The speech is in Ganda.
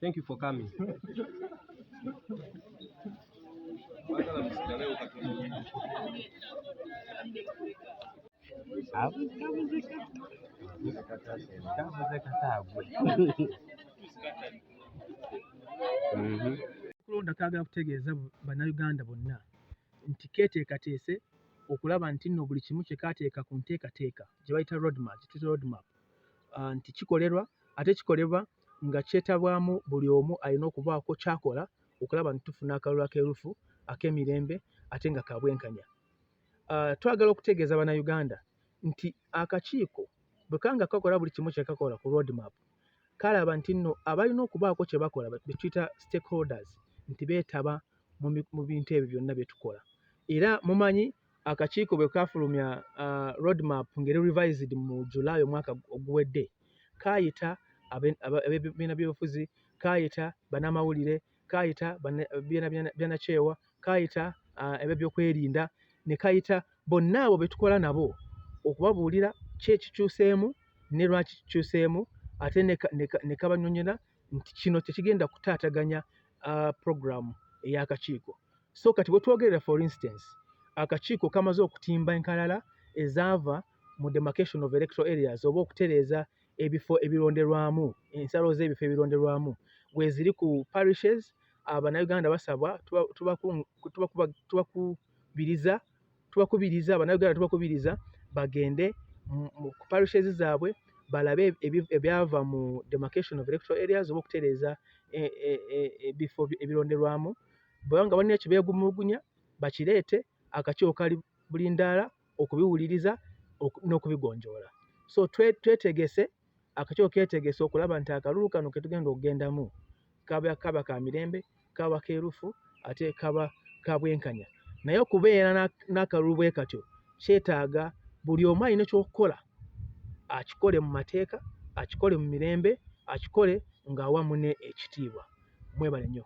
Thank you for coming. kulonda kagala kutegeeza bannayuganda bonna nti keteekateese okulaba nti nno buli kimu kyekaateeka ku nteekateeka gye bayita roadmap, gye tuyita roadmap uh, nti kikolerwa ate kikolebwa nga kyetabwamu buli omu alina okubaako kyakola okulaba nti tufuna akalulu akeerufu ak'emirembe ate nga kabwenkanya. Uh, twagala okutegeeza bannayuganda nti akakiiko bwe kanga kakola buli kimu kyekakola ku roadmap kalaba nti nno abalina okubaako kye bakola betuyita stakeholders nti beetaba mu bintu ebyo byonna bye tukola era mumanyi akakiiko bwe kaafulumya uh, roadmap ngeri revised mu july omwaka oguwedde kaayita abebibiina byobufuzi kaayita banamawulire kaayita byanakyewa kaayita uh, ebyo byokwerinda ne kayita bonna abo be tukola nabo okubabuulira ki ekikyuseemu ne lwaki kikyuseemu ate ne kabanyonyola nti kino tekigenda kutaataganya uh, program ey'akakiiko so kati wetwogerera for instance akakiiko kamaze okutimba enkalala ezaava mu demarcation of electoral areas oba okutereeza ebifo ebironderwamu ensalo z'ebifo ebironderwamu weziri ku parishes abanayuganda basabwa tubakubiriza tubakubiriza abanauganda tubakubiriza bagende mu parishes zaabwe balabe ebyava mu demarcation of electoral areas oba okutereeza e, e, e, ebifo ebironderwamu bwebanga balina ekyo beegumulugunya bakireete akakiiko kali buli ndaala okubiwuliriza n'okubigonjoola so twetegese akakiko ketegese okulaba nti akalulu kano ketugenda okugendamu kaba kaba ka mirembe kaba kerufu ate kaba kabwenkanya naye okubeera n'akalulu bwe katyo kyetaaga buli omu alina ekyokukola akikole mu mateeka akikole mu mirembe akikole ng'awa mune ekitiibwa mwebale nnyo